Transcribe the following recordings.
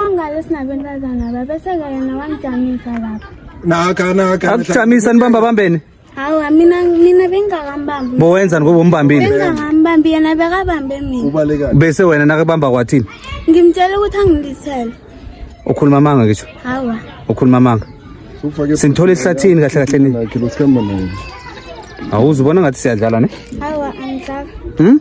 Umngane esinabentazana babeseka yena wangijamisa lapha. Naka naka. Akujamisa nibamba bambene. Hawa mina mina bengakambambi. Bo wenzani ngoba umbambile? Bengakambambi yena bekabambe mina. Ubalekani? Bese wena nakabamba kwathini? Ngimtshela ukuthi angilithele. Ukhuluma amanga ngisho. Hawa. Ukhuluma amanga. Singithola ehlathini kahle kahle nini? Awuzibona ngathi siyadlala ne? Hawa angidlali. Hmm?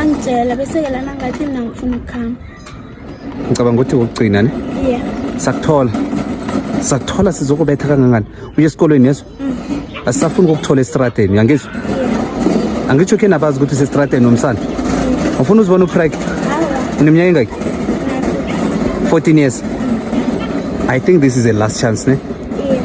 angitshela bese-ke lana ngathi mina ngifuna ukukhamba ngicabanga ukuthi ukugcina ne yeah. sakuthola sakuthola sizokubetha kangangani uye esikolweni yeso mm. asisafuni ukukuthola esitradeni uyangizwa yeah. angitsho khe nabazi ukuthi usesitradeni nomsana mm. ufuna uzibona uprike uneminyaka engaki 14 years i think this is a last chance ne yeah.